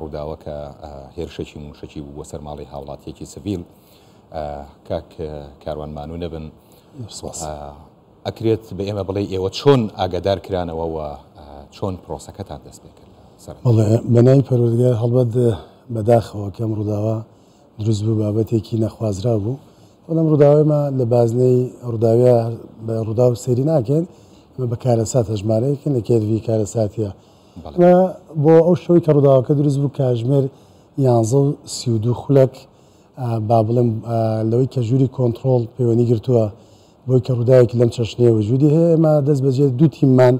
ڕووداوەکە هێرشێکی مووشەکی بوو بۆ سەر ماڵی هاوڵاتیەکی سڤیل کاک کاروان مانوو نەبن ئەکرێت بە ئێمە بڵێ ئێوە چۆن ئاگادار کرانەوە و چۆن پرۆسەکەتان دەست پێ کرد بەناوی پەرۆزگار هەڵبەت بەداخەوە کەم ڕووداوە دروست بوو بابەتێکی نەخوازرا بوو بەڵام ڕووداوێمە لە بازنەی ڕووداوە بە ڕوودا و سەری ناکەن بە کارەسات هەژمارەیەکن لە کێرڤی کارەساتە و بۆ ئەو شەوەی کە ڕووداوەکە دروست بوو کاژمێر یانزە و سی و دوو خولەک با بڵێم لەوەی کە ژووری کۆنتڕۆڵ پەیوەندی گرتووە بۆی کە ڕووداوێکی لەم چەشنەیە وجودی هەیە ئێمە دەست بەجێ دوو تیممان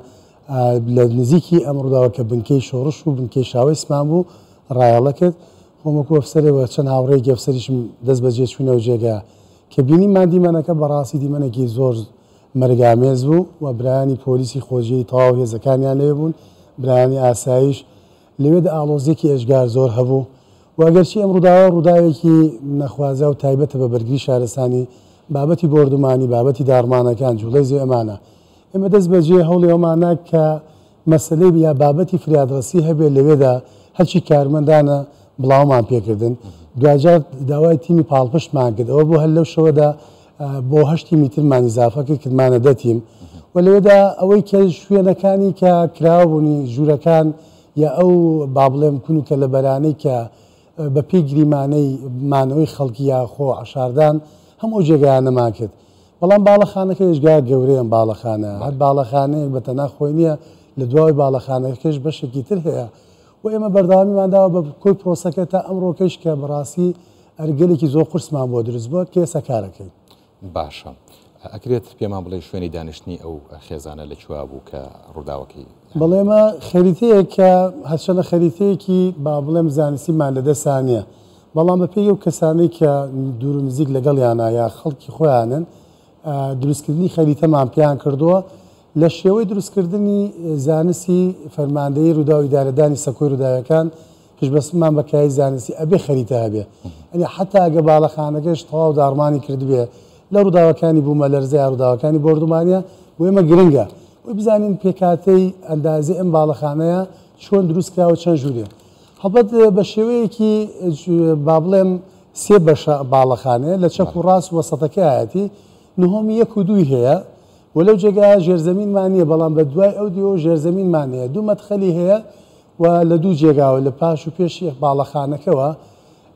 لە نزیکی ئەم ڕووداوە کە بنکەی شۆڕش و بنکەی شاوەیسمان بوو ڕایەڵە کرد خۆم وەکو ئەفسەرەوە چەند هاوڕێیەکی ئەفسەریشم دەست بەجێ چووینەوە جێگا کە بینیمان دیمەنەکە بەڕاستی دیمەنێکی زۆر مەرگامێز بوو و برایانی پۆلیسی خۆجێی تەواو هێزەکانیان لەوێ بوون، برایانی ئاسایش لەوێدا ئاڵۆزییەکی ئێجگار زۆر هەبوو و ئەگەرچی ئەم ڕووداوە ڕووداوێکی نەخوازراو و تایبەتە بە بەرگری شارستانی، بابەتی بۆردومانی، بابەتی داڕمانەکان، جوڵەی زێ ئەمانە. ئێمە دەست بەجێ هەوڵی ئەوەمان نا کە مەسەلەی یا بابەتی فریادڕەسی هەبێت لەوێدا، هەرچی کارمەندانە بڵاومان پێکردن، دواجار داوای تیمی پاڵپشتمان کرد، ئەوە بوو هەر لەو شەوەدا بۆ هەشت تیمی ترمان ئیزافە کرد کردمانە دە تیم و لەوێدا ئەوەی کە شوێنەکانی کە کراوەبوونی ژوورەکان یا ئەو با بڵێم کون و کە لە بەرانەی کە بە پێی گریمانەی مانەوەی خەڵکی یاخۆ عشاردان هەم ئەو جێگایانەمان کرد بەڵام باڵەخانەکە ێژگا گەورەیان باڵەخانە هەر باڵەخانەیەک بە تەنا خۆی نییە لە دواوەی باڵەخانەکەش بەشێکی تر هەیە و ئێمە بەرداوامیمانداوە بە کۆی پرۆسەکە تا ئەمڕۆکەش کە بەڕاستی ئەر گەلێکی زۆر قورسمان بۆ دروست بوە کە ئێستا کارەکەین. باشە ئەکرێت پێمان بڵێ شوێنی دانیشتنی ئەو خێزانە لە کوێ بوو کە ڕووداوەکەی. بەڵێ ئەمە خەریتەیەک کە هەرچەندە خەریتەیەکی با بڵێم زانستیمان لە دەستا نیە بەڵام بە پێی ئەو کەسانەی کە دوور و نزیک لەگەڵیانە یا خەڵکی خۆیانن دروست کردنی خەریتەمان پێیان کردووە لە شێوەی دروست کردنی زانستی فەرماندەیی ڕووداو ئیدارەدانی سەکۆی ڕووداوەکان پشتبەستنمان بە کایەی زانستی ئەبێ خەریتە هەبێ. یەنی حەتا ئەگە باڵەخانەکەش تەواو داڕمانی کردبێ لە ڕووداوەکانی بوومەلەرزە یا ڕووداوەکانی بۆردومانە، بۆ ئێمە گرنگە ئەوەی بزانین پێکهاتەی ئەندازەی ئەم باڵەخانەیە چۆن دروست کرا و چەند ژوورێ. هەڵبەت بە شێوەیەکی با بڵێم سێ بەشە باڵەخانەیە، لە چەپ و ڕاست وەسەتەکەیایەتی، نهۆمی یەک و دووی هەیە و لەو جێگایە ژێرزەمینمان نییە، بەڵام بە دوای ئەو دیوە ژێرزەمینمان هەیە. دوو مەدخەلی هەیە. و لە دوو جێگاوە لە پاش و پێشی باڵەخانەکەوە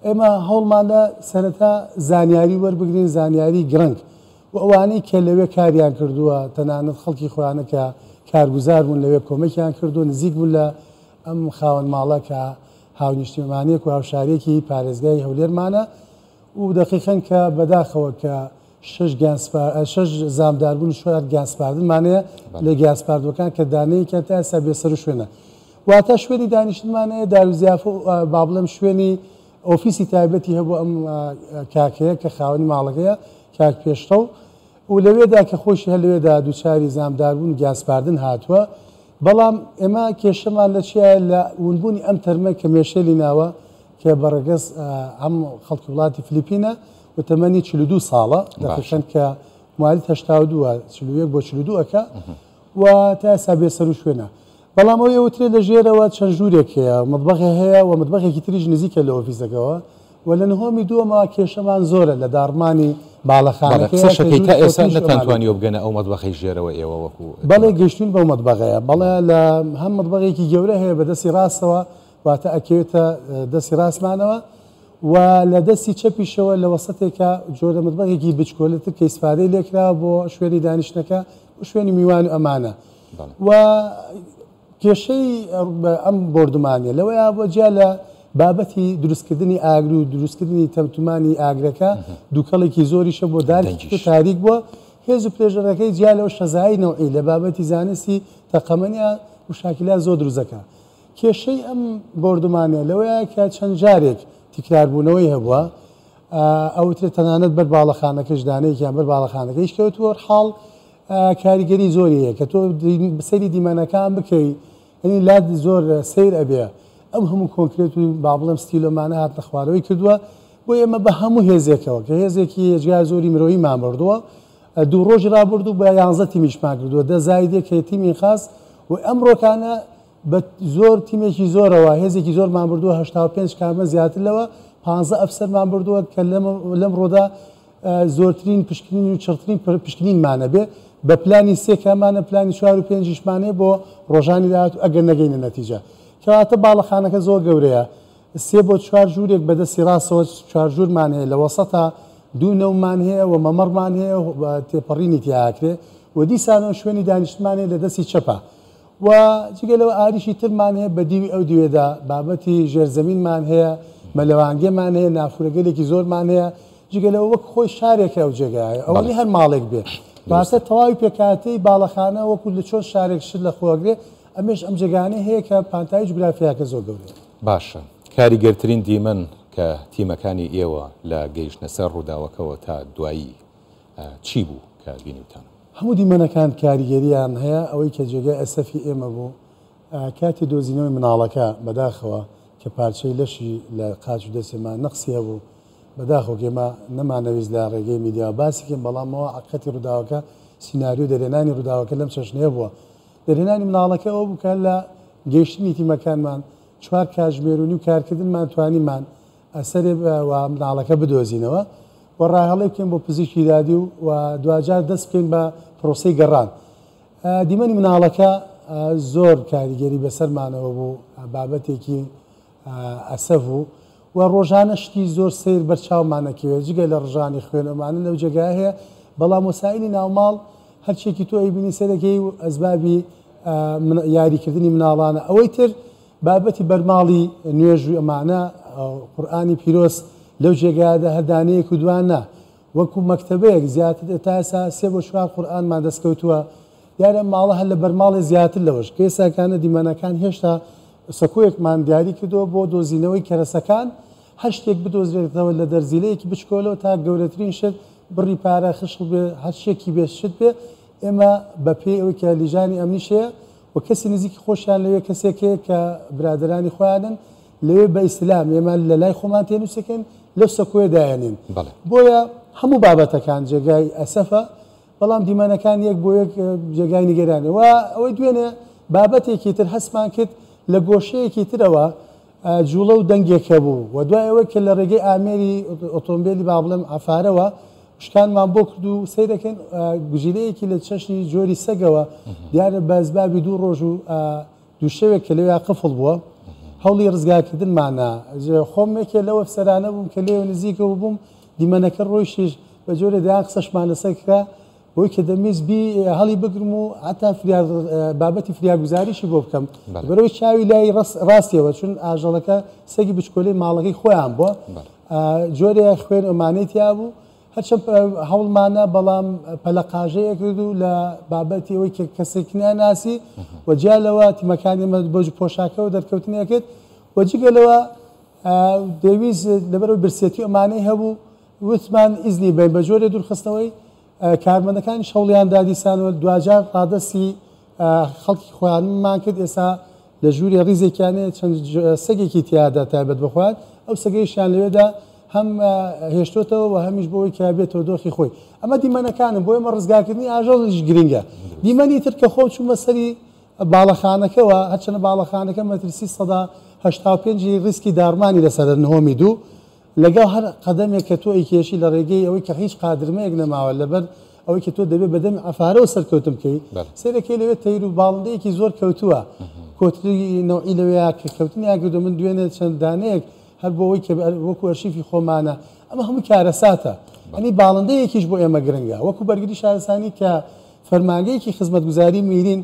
ئێمە هەوڵماندا سەرەتا زانیاری وەربگرین زانیاری گرنگ و ئەوانەی کە لەوێ کاریان کردووە تەنانەت خەڵکی خۆیانە کە کارگوزار بوون لەوێ کۆمەکیان کردو نزیک بوون لە ئەم خاوەن ماڵە کە هاونیشتیمانێک و هاوشارێکی پارێزگای هەولێرمانە و دەقیقەن کە بەداخەوە کە شەش گیان سپا شەش زامداربوون و شۆیارد گیان سپاردن مانەیە لە گیان سپاردووەکان کە دانەیەکیان تا ئێستا بێ سەرو شوێنە واتە شوێنی دانیشتنمانەیە داروزیافە و با بڵێم شوێنی ئۆفیسی تایبەتی هەبوو ئەم کاکەیە کە خاوەنی ماڵەکەیە کاک پێشڕەو و لەوێدا کە خۆشی هەر لەوێدا دووچاری زامداربوون و گیان سپاردن هاتووە بەڵام ئێمە کێشەمان لە چیە لە ونبوونی ئەم تەرمە کە مێشێلی ناوە کە بەڕگەز ئەم خەڵکی وڵاتی فلیپینە و تەمەنی چل و دوو ساڵە دەخشن کە موالد هەشتا و دووە چل و یەک بۆ چل و دوو ئەکا و تا ئێستا بێ سەر و شوێنە بەڵام ئەوی ئەوترێت لە ژێرەوە چەند ژوورێک هەیە مەتبەخێ هەیە و مەتبەخێکی تریش نزیکە لە ئۆفیسەکەەوە و لە نهۆمی دووەمە کێشەمان زۆرە لە داڕمانی باڵەخانەکە بەڵێ قسەشەکەی تا ئێستا قسەشەکەی تا ئێستا نەتانتوانیوە بگەنە ئەو مەتبەخەی ژێرەوە ئێوە وەکوو بەڵێ گەیشتووین بەو مەتبەخەیە بەڵێ لە هەم مەتبەخێکی گەورە هەیە بەدەستی ڕاستەوە واتە ئەکەوێتە دەستی ڕاستمانەوە و لە دەستی چەپیشەوە لە وەسەتێکە جۆرە متبەخێکی بچکۆلەتر کە ئیسفادەی لێکراوە بۆ شوێنی دانیشتنەکە و شوێنی میوان و ئەمانە و کێشەی ئەم بۆردومانە لەوەیە بۆ جیا لە بابەتی دروستکردنی ئاگر و دروستکردنی تەمتمانی ئاگرەکە دووکەڵێکی زۆریشە بۆ دارکی تاریک بووە هێز و پێژەرەکەی جیا لەو شەزایی نەوعی لە بابەتی زانستی تەقەمەنیا مشاکلات زۆر دروزەکە کێشەی ئەم بۆردومانە لەوەیە کە چەند جارێک تیکراربوونەوەی هەبووە، ئەوترێت تەنانەت بەر باڵەخانەکەش دانەیەکیان بەر باڵەخانەکەیش کەوتووە، حاڵ کاریگەری زۆری هەیە کە تۆ سەیری دیمەنەکان بکەی یەنی لات زۆر سەیر ئەبێ، ئەم هەموو کۆنکرێت و با بڵێم ستیلۆمانە هاتنە خوارەوەی کردووە، بۆیە ئێمە بە هەموو هێزێکەوە کە هێزێکی هێجگار زۆری مرۆیمان بردووە، دوو رۆژی رابردوو بە یانزە تیمی شماکردووە، دە زاید یەک هەیە تیمی خاس و ئەمرۆکانە بە زۆر تیمێکی زۆرەوە هێزێکی زۆرمان بردووە هەشتا و پێنج کامە زیاتر لەوە پانزە ئەفسەرمان بردووە کە لەمرۆدا زۆرترین پشکنین و چڕترین پشکنینمان هەبێ بە پلانی سێ کامانە پلانی چوار و پێنجیشمانێ بۆ رۆژانی داهاتوو ئەگەر نەگەینە نەتیجە کەواتە باڵەخانەکە زۆر گەورەیە سێ بۆ چوار ژوورێک بە دەستی ڕاستەوە چوار ژوورمان هەیە لە وەسەتا دوو نەومان هەیە و مەمەڕمان هەیە و تێپەڕینی تیا ئەکرێ و دیسانەوە شوێنی دانیشتمان هەیە لە دەستی چەپا و جگە لەوە ئاریشی ترمان هەیە بە دیوی ئەو دوێدا بابەتی ژێرزەمینمان هەیە مەلەوانگێمان هەیە نافورەگەلێکی زۆرمان هەیە جگە لەوە وەک خۆی شارێکە ئەو جێگایە ئەوە نی هەر ماڵێک بێ باسە تەواوی پێکاتەی باڵەخانە وەکو لە چۆن شارێک شت لە خۆگرێ ئەمێش ئەم جێگانەی هەیە کە پانتایی جوگرافیاکە زۆر گەورەیە باشە کاریگەرترین دیمەن کە تیمەکانی ئێوە لە گەیشتنە سەر ڕووداوەکەوە تا دوایی چی بوو کە بینیوتان؟ هەموو دیمەنەکان کاریگەرییان هەیە، ئەوەی کە جێگای ئەسەفی ئێمە بوو کاتی دۆزینەوەی مناڵەکە بەداخەوە کە پارچەی لەشی لە قاچ و دەستی ما نەقسی هەبوو، بەداخەوە ئێمە نەمانەویست لە ڕێگەی میدیاوە باسی کەین بەڵام ئەوە حەقیقەتی ڕووداوەکە سیناریۆ دەرێنانی ڕووداوەکە لەم چەشنەیە بووە. دەرهێنانی منداڵەکە ئەوە بوو کە هەر لە گەیشتنی تیمەکانمان چوار کاتژمێر و نیو کارکردنمان توانیمان سەرێ و منداڵەکە بدۆزینەوە و ڕاهێڵێ بکەین بۆ پزیشکی دادی و دواجار دەست بکەین بە پرۆسەی گەڕان. دیمەنی منداڵەکە زۆر کاریگەری بەسەرمانەوە بوو، بابەتێکی ئەسەڤو و ڕۆژانە شتی زۆر سەیر بەر چاومان ئەکەوێ جگە لە ڕژانی خوێن ئەمانە لەو جێگایە هەیە بەڵام وەسائیلی ناو ماڵ هەر چیەکی تۆ ئەیبینی سەیر ئەکەی و ئەسبابی یاری کردنی مناڵانە ئەوەی تر بابەتی بەرماڵی نوێژو ئەمانە قورئانی پیرۆز لەو جێگایەدا هەر دانەیەک و دوان نا وەکو مەکتەبەیەک زیاتر تا ئێستا سێ بۆ چوار قورئانمان دەست کەوتووە، دیارە ئەم ماڵە هەر لە بەرماڵێ زیاتر لەوەش، کە ئێستا کانە دیمەنەکان هێشتا سەکۆیەکمان دیاری کردووە بۆ دۆزینەوەی کەرەسەکان، هەر شتێک بدۆزرێتەوە لە دەرزیلەیەکی بچکۆلەوە تا گەورەترین شت، بڕی پارە خشڵ بێ هەر شتێکی بێ شت بێ، ئێمە بە پێی ئەوەی کە لیژانی ئەمنیش هەیە و کەسی نزیکی خۆشیان لەوێ کەسێک هەیە کە برادەرانی خۆیانن، لەوێ بە ئیسلام ئێمە لە لای خۆمان تێنووسەکەین لەو سەکۆیە دایەنێن بۆیە هەموو بابەتەکان جێگای ئەسەفە بەڵام دیمەنەکان یەک بۆ یەک جێگای نیگەرانێ و ئەوەی دوێنێ بابەتێکی تر هەستمان کرد لە گۆشەیەکی ترەوە جوڵە و دەنگێکە بوو و دوای ئەوەی کە لە ڕێگەی ئامێری ئۆتۆمبیلی با بڵێم ئەفارەوە شکانمان بۆ کرد و سیرەکەن گزیرەیەکی لە چەشنی جۆری سەگەوە دیارە بەزبابی دوو ڕۆژ و دوو شەوێک کە لەوێ قفڵ بووە هەوڵی ڕزگارکردنمان نا. خۆم یەکێ لەو ئەفسەرانە بووم کە لێوێ نزیکەوە بووم، دیمەنەکە ڕۆیشتیش، بە جۆرێ دەیان قسەشمان لەسەر کرا بۆی کە دەمویست بی هەڵی بگرم و هەتا فریاد بابەتی فریاگوزاریشی بۆ بکەم بەرەوەی چاوی لای ڕاستیەوە چون ئاژەڵەکە سەگی بچکۆلەی ماڵەکەی خۆیان بووە جۆرێ خوێن ئەمانەی تیا بوو هەرچەند هەوڵمانە بەڵام پەلەقاژەیە کرد و لە بابەتی ئەوەی کە کەسێک ناناسی و جیا لەوە تیمەکانی مە بۆ پۆشاکەوە دەرکەوتنی کرد و جگە لەوە دەویست لەبەرەوە برسێتی ئەمانەی هەبوو وتمان ئیزنی بین بە جۆرێ دوورخستنەوەی کارمەندەکانی شەوڵیان دادیسانەوە دواجار ڕادەسی خەڵکی خۆیانمان کرد ئێستا لە ژوورێ ڕیزێکیان هەیە چەند سەگێکی تیادا تایبەت بە خۆیان ئەو سەگەیشیان لەوێدا هەم هێشتۆتەوە و هەمیش بۆی کە بێتەوە دۆخی خۆی ئەمە دیمەنەکانم بۆ ئێمە ڕزگاکردنی ئاژەڵیش گرنگە دیمەنی تر کە خۆم چوومە سەری باڵەخانەکەەوە هەرچەنە باڵەخانەکە مەترسی سەدا هەشتا و پێنجی ریسکی داڕمانی لەسەر نهۆمی دوو لەگەڵ هەر قەدەمێک کە تۆ ئەیکێشی لە ڕێگەی ئەوەی کە هیچ قادرمەیەک نەماوە لەبەر ئەوەی کە تۆ دەبێ بە دەمی عەفارەوە سەرکەوتن بکەی سەیرەکەی لەوێ تەیر و باڵندەیەکی زۆر کەوتووە کۆتری نەوعی لەوێیا کە کەوتنیان کردو من دوێنێ چەند دانەیەک هەر بۆ ئەوەی کە وەکو ئەرشیفی خۆمانە ئەمە هەموو کارەساتە ئەنی باڵندەیەکیش بۆ ئێمە گرنگە وەکو بەرگری شارستانی کە فەرمانگەیەکی خزمەتگوزاری میرین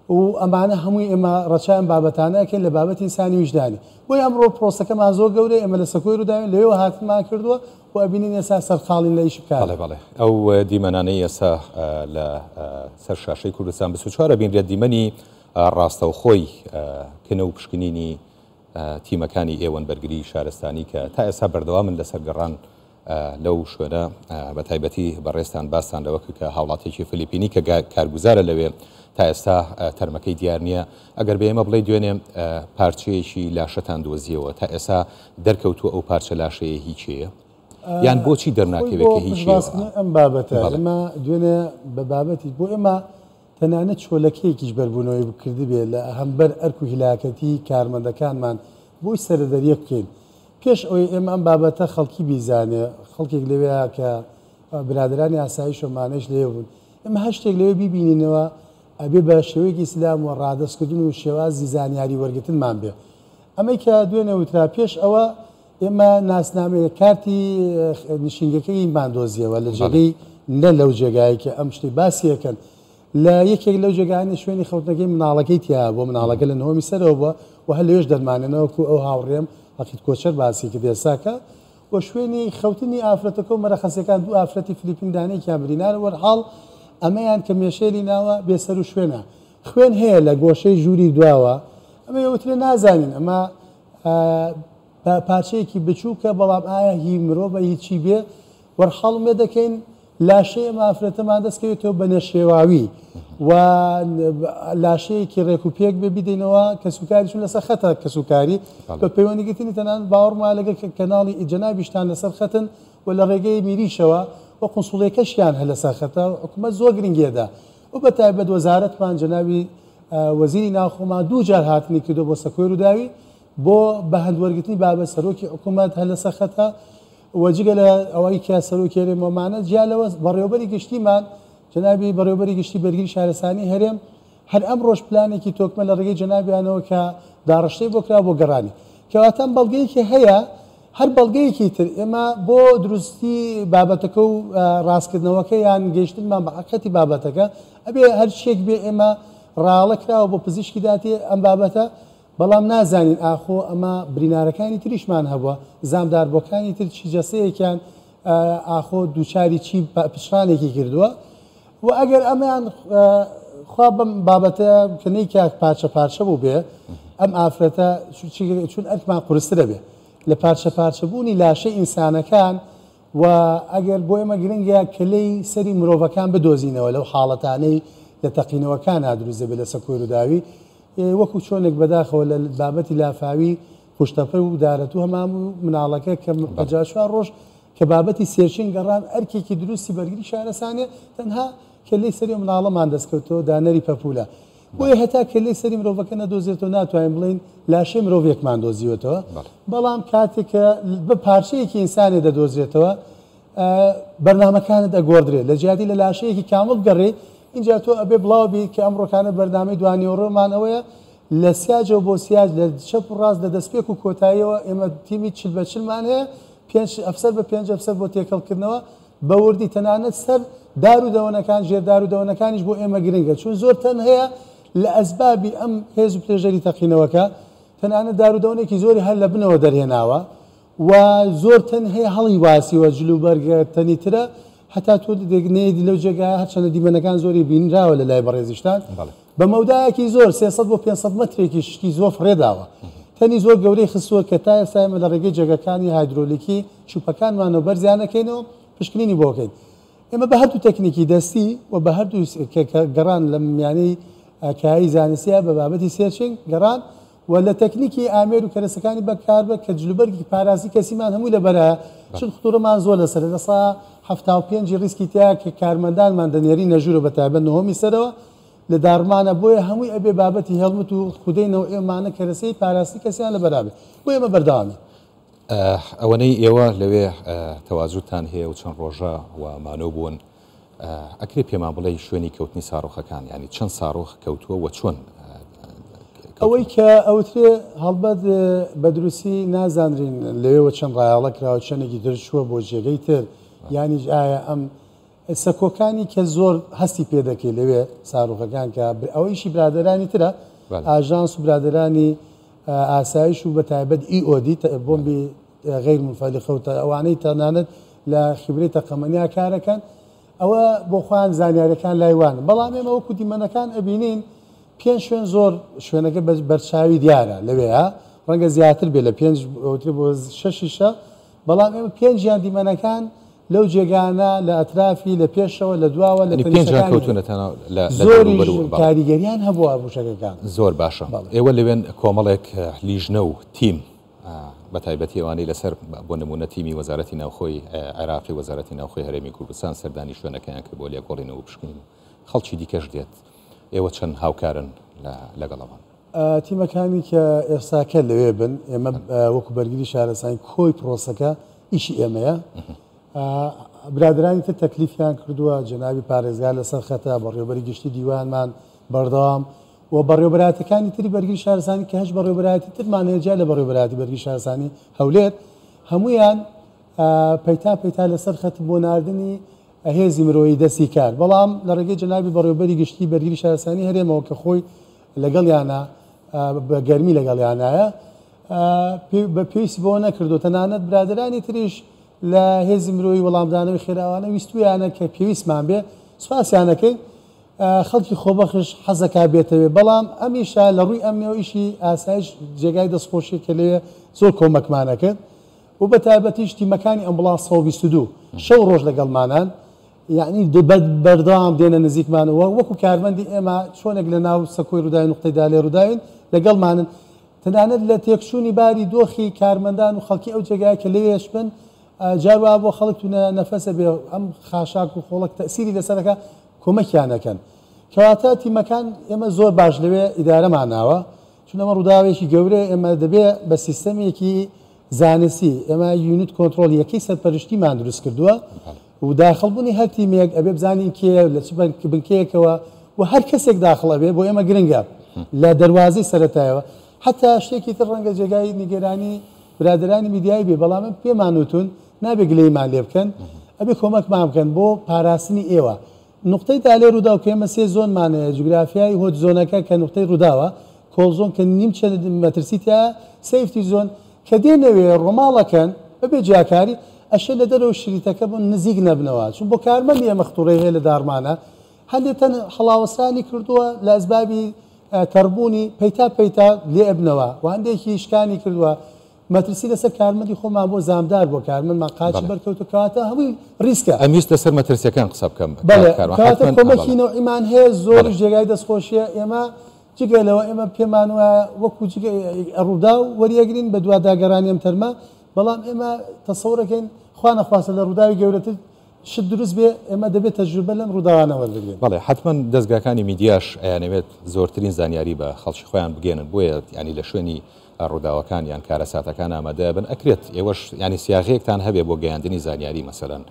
و ئەمانە هەمووی ئێمە ڕەچاوی ئەم بابەتانە ئەکەین لە بابەتی ئینسانی ویژدانی بۆیە ئەمڕۆ پرۆسەکەمان زۆر گەورەیە ئێمە لە سەکۆی ڕووداوین لەوێوە هاتنمان کردووە و ئەبینین ئێستا سەرقاڵین لە ئیشی کار. بەڵێ بەڵێ ئەو دیمەنانەی ئێستا لە سەر شاشەی کوردستان بیست و چوار ئەبینرێت دیمەنی ڕاستەوخۆی کنە و پشکنینی تیمەکانی ئێوەن بەرگریی شارستانی کە تا ئێستا بەردەوامن لەسەر گەڕان لەو شوێنە بە تایبەتی بەڕێزتان باستان لەوە کرد کە هاوڵاتیەکی فلیپینی کە کارگوزارە لەوێ تا ئێستا تەرمەکەی دیار نییە ئەگەر بە ئێمە بڵێ دوێنێ پارچەیەکی لاشەتان دۆزیەوە تا ئێستا دەرکەوتووە ئەو پارچە لاشەیە هی کێیە؟ یان بۆچی دەرناکەوێت کە هی کێیە؟ ئەم بابەتە ئێمە دوێنێ بە بابەتی بۆ ئێمە تەنانەت چۆلەکەیەکیش بەربوونەوەی بکردبێ لە هەمبەر ئەرک و هیلاکەتی کارمەندەکانمان بۆی سەرەدەریە بکەین پێش ئەوەی ئێمە ئەم بابەتە خەڵکی بیزانێ، خەڵکێک لەوێیا کە برادەرانی ئاسایش و مانەش لەوێ بوون، ئێمە هەر شتێک لەوێ بیبینینەوە ئەبێ بە شێوەیەکی ئیسلام و ڕادەستکردن و شێوازی زانیاری وەرگرتنمان بێ. ئەمەی کە دوێنێ وترا، پێش ئەوە ئێمە ناسنامەی، کارتی نشینگەکەیمان دۆزییەوە لە جێگەی، نە لەو جێگایەی کە ئەم شتەی باسی ئەکەن، لە یەکێک لەو جێگایانە شوێنی خەوتنەکەی مناڵەکەی تیایە بۆ مناڵەکە لە نهۆمی سەرەوە بوە و هەر لەوێش دەرمانەنە وەکو ئەو هاوڕێم عەقید کۆچەر باسی کرد ئێستا کە و شوێنی خەوتنی ئافرەتەکە و مەرەخەسیەکان دوو ئافرەتی فلیپین دانە یەکیان برینار وەرحاڵ ئەمەیان کە مێشێلی ناوە بێ سەرو شوێنە خوێن هەیە لە گۆشەی ژووری دواوە ئەمەی ئەوترێ نازانین ئەمە پارچەیەکی بچوکە بەڵام ئایا هی مرۆڤە هی چی بێ وەرحاڵ مێ دەکەین لاشەی ئەم ئافرەتەمان دەست کەوێتەوە بە نەشێواوی و لاشەیەکی ڕێک و پێک بێ بیدەینەوە کەسوکاریشون لەسەر خەتە کەسوکاری بە پەیوەندی گرتنی تەنان باوەڕما لەگەر کەناڵی ئیجەنابیشتان لەسەر خەتن و لە ڕێگەی میریشەوە و قنسوڵیەکەشیان هە لەسەر خەتە حکومەت زۆر گرنگێدا و بە تایبەت وەزارەتمان جەنابی وەزیری ناوخۆمان دوو جار هاتنی کردو بۆ سەکۆێر و داوی بۆ بەهەند وەرگرتنی بابەت سەرۆکی حکوومەت هەر لەسەر خەتە و جگە لە ئەوەی کە سەرۆکی هەرێم وەمانە جیا لەوە بەڕێوەبەری گشتیمان جەنابی بەڕێوەبەری گشتی بەرگری شارستانی هەرێم هەر ئەمڕۆش پلانێکی تۆکمە لە ڕێگەی جەنابیانەوە کە داڕشتەی بۆ کرا بۆ گەڕانی کەواتە ئەم بەڵگەیەکی هەیە هەر بەڵگەیەکی تر ئێمە بۆ دروستی بابەتەکە و ڕاستکردنەوەکە یان گەیشتنمان بە حقەتی بابەتەکە ئەبێ هەرچێک بێ ئێمە ڕاڵە کراوە بۆ پزیشکی داتی ئەم بابەتە بەڵام نازانین ئاخۆ ئەمە برینارەکانی تریشمان هەبووە، زامدار بۆکانی تر چی جەستەیەکیان ئاخۆ دووچاری چی پچڕانێکی کردووە و ئەگەر ئەمەیان خوا بەم بابەتە کە نەیکات پارچە پارچە بووبێ ئەم ئافرەتە چون ئەرکمان قورسترە بێ لە پارچە پارچە بوونی لاشەی ئینسانەکان و ئەگەر بۆ ئێمە گرنگە کەلێی سەری مرۆڤەکان بدۆزینەوە لەو حاڵەتانەی لە تەقینەوەکانا دروست دەبێ لەسە کۆیروداوی وەکو چۆنێک بەداخەوە لە بابەتی لافاوی قوشتەپە و دارەتوو هەمان بوو، مناڵەکە کە پەنجا چوار ڕۆژ کە بابەتی سێرچین گەڕان ئەرکێکی دروستی بەرگری شارەسانیە تەنها کەللەی سەری ئەو مناڵەمان دەستکەوتەوە دانەری پەپولە بۆیە هەتا کەللەی سەری مرۆڤەکە نەدۆزێتەوە ناتوانین بڵێین لاشەی مرۆڤێکمان دۆزیوەتەوە بەڵام کاتێک کە بە پارچەیەکی ئینسانێ دەدۆزێتەوە بەرنامەکانت ئەگۆڕدرێ لەجیاتی لە لاشەیەکی کامڵ بگەڕێی ئینجا تۆ ئەبێ بڵاو بی کە ئەمڕۆکانە بەرنامەی دوانیوەڕۆ مان ئەوەیە لە سیاجەوە بۆ سیاج لە چەپ و ڕاست لە دەسپێک و کۆتاییەوە ئێمە تیمی چل بە چل مان هەیە پێنج ئەفسەر بە پێنج ئەفسەر بۆ تێکەڵ کردنەوە بە وردی تەنانەت سەر دار و دەوەنەکان ژێر دار و دەوەنەکانیش بۆ ئێمە گرنگە چون زۆر تەن هەیە لە ئەسبابی ئەم هێز و پرێژەری تەقینەوەکە تەنانەت دار و دەوەنێکی زۆری هەر لە بنەوە دەرهێناوە و زۆر تەن هەیە هەڵی واسیوە جل و بەرگە تەنی ترە هەتا تۆ دێک نەیەدی لەو جێگایە هەرچەندە دیمەنەکان زۆری بینراوە لە لای بەڕێزیشتان بە مەودایەکی زۆر 300 بۆ 500 مەترێکی شتی زۆر فڕێداوە تەنی زۆر گەورەی خستووە کە تا ئێستا ئێمە لە ڕێگەی جێگەکانی هایدرۆلیکی چوپەکانمانەوە بەرزیانەکەینەوە پشکنینی بۆکەین ئێمە بە هەردوو تەکنیکی دەستی و بە هەردوو گەڕان لە میانەی کایی زانستیە بە بابەتی سێرچنگ گەڕان و لە تەکنیکی ئامێر و کەرەسەکانی بەکاربەر کە جلوبەرگی پاراستی کەسیمان هەمووی لەبەرایە چون خطورەمان زۆر لەسەرە لە سەدا حەفتا و پێنج ی ریسکی تیایە کە کارمەندانمان دەنێرینە ژورە بەتایبەت نهۆمی سەرەوە لە داڕمانە بۆیە هەمووی ئەبێ بابەتی هێڵمت و خودەی نەوعی مانە کەرەسەی پاراستی کەسیان لەبەرابێ بۆ ئێمە بەردەوامین. ئەوەنەی ئێوە لەوێ تەوازوتان هەیە و چەند ڕۆژە و مانۆ بوون، ئەکرێ پێمان بڵێی شوێنی کەوتنی ساڕۆخەکان یانی چەند ساڕۆخ کەوتووە وە چۆن کەوتوون؟ ئەوەی کە ئەوترێ هەڵبەت بە دروستی نازانرین لەوێوە چەند ڕایەڵە کراوە چەندێکی تر چووە بۆ جێگەی تر یانیش ئایا ئەم سەکۆکانی کە زۆر هەستی پێ دەکەی لەوێ ساڕوخەکان کە ئەوە ئیشی برادرانی ترە ئاژانس و برادرانی ئاسایش و بە تایبەت ئی ئۆدی بۆمبی غیر منفلقە و تا ئەوانەی تەنانەت لە خیبرەی تەقەمەنیا کارەکەن ئەوە بۆ خۆیان زانیارەکان لای وانە بەڵام ئێمە وەکو دیمەنەکان ئەبینین پێنج شوێن زۆر شوێنەکە بە بەرچاوی دیارە لەوێە ڕەنگە زیاتر بێ لە پێنج ئەوترێ بۆ شەشیشە بەڵام ئێمە پێنجیان دیمەنەکان لەو جێگانە لە ئەترافی لە پێشەوە لە دواوە لە زۆری کاریگەریان هەبووە بوشەکەکان زۆر باشە ئێوە لەوێن کۆمەڵێک لیژنە و تیم بە تایبەتی ئەوانەی لەسەر بۆ نموونە تیمی وەزارەتی ناوخۆی عێراقی وەزارەتی ناوخۆی هەرێمی کوردستان سەردانی شوێنەکەیان کرد بۆ لێکۆڵینەوە و پشکنین و خەڵکی دیکەش دێت ئێوە چەند هاوکارن لەگەڵ ئەوان؟ تیمەکانی کە ئێستاکە لەوێ بن ئێمە وەکو بەرگری شارەسانی کۆی پرۆسەکە ئیشی ئێمەیە برادرانی تر تەکلیفیان کردووە جەنابی پارێزگار لەسەر خەتە بەڕێوبەری گشتی دیوانمان بەردەوام و بەڕێوەبەرایەتیەکانی تری بەرگری شارستانی کە هەشت بەڕێوەبەرایەتی ترمان هەیە جیا لە بەڕێوەبەرایەتی بەرگری شارستانی هەولێر هەموویان پەیتا پەیتا لەسەر خەت بۆ ناردنی هێزی مرۆیی دەستی کار بەڵام لە ڕێگەی جەنابی بەڕێوەبەری گشتی بەرگری شارستانی هەرێمەوە کە خۆی لەگەڵیانە بە گەرمی لەگەڵیانایە بە پێویست بۆ نەکردو تەنانەت برادرانی تریش لە هێزی مرۆیی وەڵامدانەوەی خێراوانە ویستویانە کە پێویستمان بێ سوپاسیانەکەین خەڵکی خۆبەخش حەزەکا بێتەوێ بەڵام ئەمیشا لە ڕووی ئەمنیەوە ئیشی ئاسایش جێگای دەست خۆشیە کە لەوێ زۆر کۆمەکمان ئەکرد و بە تایبەتیش تیمەکانی ئەمبوڵانس سەد و بیست و دوو شەو ڕۆژ لەگەڵمانان یەعنی بەردەوام دێنە نزیکمان و وەکو کارمەندی ئێمە چۆنێک لە ناو سەکۆی ڕووداوی نوقتەی دا لێ ڕووداوین لەگەڵمانن تەنانەت لە تێکچوونی باری دۆخی کارمەندان و خەڵکی ئەو جێگایە کە لەوێش بن جار وا بۆ خەڵک توونە نەفەسە بێ ئەم خاشاک و خۆڵەک تەئسیری لەسەر ئەکا کۆمەکیان ئەکەن کەواتە تیمەکان ئێمە زۆر باش لەوێ ئیدارەمان ناوە چون ئەمە ڕووداوێکی گەورەیە ئێمە دەبێ بە سیستەمێکی زانستی ئێمە یونت کۆنترۆڵ یەکەی سەرپەرشتیمان دروست کردووە و داخڵبوونی هەر تیمێک ئەبێ بزانین کێ لە چ بنکەیەکەوە و هەر کەسێک داخڵ ئەبێ بۆ ئێمە گرنگە لە دەواازەی سەتایەوە حتا شتێکی تر ڕەنگە جێگای نیگەرانی برادرانی میدیایی بێ بەڵام پێمانوتون نابێ گلەیمان لێ بکەن ئەبێ کۆمەکمان بکەن بۆ پاراستنی ئێوە نوقتەی تالێ رووداو کە ئێمە سێ زۆنمان هەیە جوگرافیای هۆت زۆنەکە کە نوقتەی رووداوە کۆڵ زۆن کە نیمچە مەترسی تیایە سەیفتی زۆن کە دێنەوێ رۆماڵەکەن بەبێ جیاکاری ئەشێ لە دەرەوە شریتەکە بۆ نزیک نەبنەوە چون بۆ کارمەندی ئێمە خطوڕی هەیە لە داڕمانە هەندێ تەن هەڵاوەسانی کردووە لە ئەسبابی تەڕبوونی پەیتا پەیتا لێ ئەبنەوە و هەندێکی شکانی کردووە مەترسی لەسەر کارمەندی خۆمان بۆ زامدار بۆ کارمەندمان قاچی بەڵێ. بەرکەوتوو کەواتە هەمووی ریسکە. ئەمویست لەسەر مەترسیەکان قسە بکەم بە کاک بەڵێ کاروان کەواتە حەتمەن ئا کۆمەکی بەڵێ نەوعیمان هەیە زۆریش بەڵێ. جێگای دەستخۆشیە ئێمە جگە لەوە ئێمە پێمان وایە وەکو جگە ی ڕوداو وەریەگرین بە دواداگەرانی ئەم تەرمە بەڵام ئێمە تەسەورەکەین خوا نەخواستە لە ڕوداوی گەورەتر شت دروست بێ ئێمە دەبێ تەجروبە لەم ڕوداوانە وەربگرین. بەڵێ حەتمەن دەزگاکانی میدیاش ئەیانەوێت زۆرترین زانیاری بە خەڵکی خۆیان بگەیەنن بۆیە یانی لە شوێنی ڕوداوەکان یان کارەساتەکان ئامادە بن ئەکرێت ئێوەش یانی سیاغەیەکتان هەبێ بۆ گەیاندنی زانیاری مەسەلەن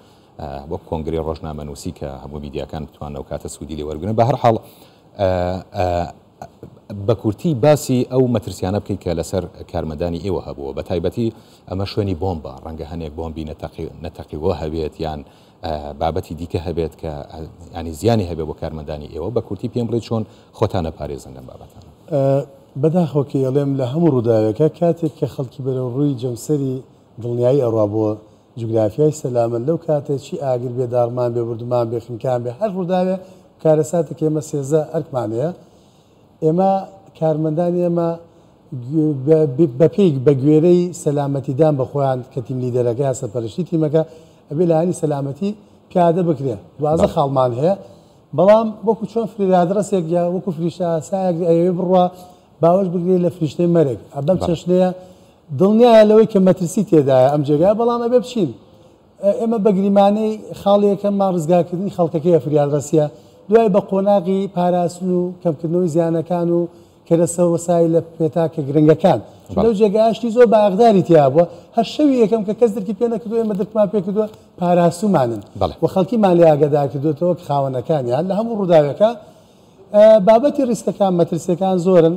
وەک کۆنگرەی ڕۆژنامە نووسی کە هەموو میدیاکان بتوان ئەو کاتە سوودی لێ وەرگن بە هەر حاڵ بە کورتی باسی ئەو مەترسیانە بکەیت کە لەسەر کارمەندانی ئێوە هەبووە بە تایبەتی ئەمە شوێنی بۆمبە ڕەنگە هەنێک بۆمبی نەتەقی نەتەقیوە هەبێت یان بابەتی دیکە هەبێت کە یانی زیانی هەبێت بۆ کارمەندانی ئێوە بە کورتی پێم بڵێ چۆن خۆتان ئەپارێزن لەم بابەتانە؟ بەداخەوە کە ئەڵێم لە هەموو ڕووداوێکە کاتێک کە خەڵکی بەرەو ڕووی جەمسەری دڵنیایی ئەڕوا بۆ جوگرافیای سەلامەت لەو کاتە چی ئاگر بێ داڕمان بێ بوردمان بێ خنکان بێ هەر ڕووداوێ کارەساتێک ئێمە سێزە ئەرکمان هەیە ئێمە کارمەندان ئێمە بە پێی بە گوێرەی سەلامەتی دان بە خۆیان کە تیم لیدەرەکە یا سەرپەرشتی تیمەکە ئەبێ لایەنی سەلامەتی پیادە بکرێن دوازدە بەڵێ. خاڵمان هەیە بەڵام وەکو چۆن فریادڕەسێک یا وەکو فریشتە ئاسایەک ئەیەوێ بڕوا باوەش بگرێ لە فریشتەی مەرگ بەم بەڵێ. چەشنەیە دڵنیایە لەوەی کە مەترسی تێدایە ئەم جێگایە بەڵام ئەبێ بچین. ئێمە بە گریمانەی خاڵی یەکەممان ڕزگارکردنی خەڵکەکەیە فریادڕەسیە دوای بە قۆناغی پاراستن و کەمکردنەوەی زیانەکان و کەرەسە وەسایلە پێتاکە گرنگەکان چون لەو جێگایە شتی زۆر بە ئاغداری تیا بووە هەر شەوی یەکەم کە کەس درکی پێ نەکردووە ئێمە درکمان پێ کردووە پاراستومانن و خەڵکیمان لێ ئاگەدار کردووەتەوە کە خاوەنەکانیان لە هەموو ڕووداوێکە بابەتی ڕیسکەکان مەترسیەکان زۆرن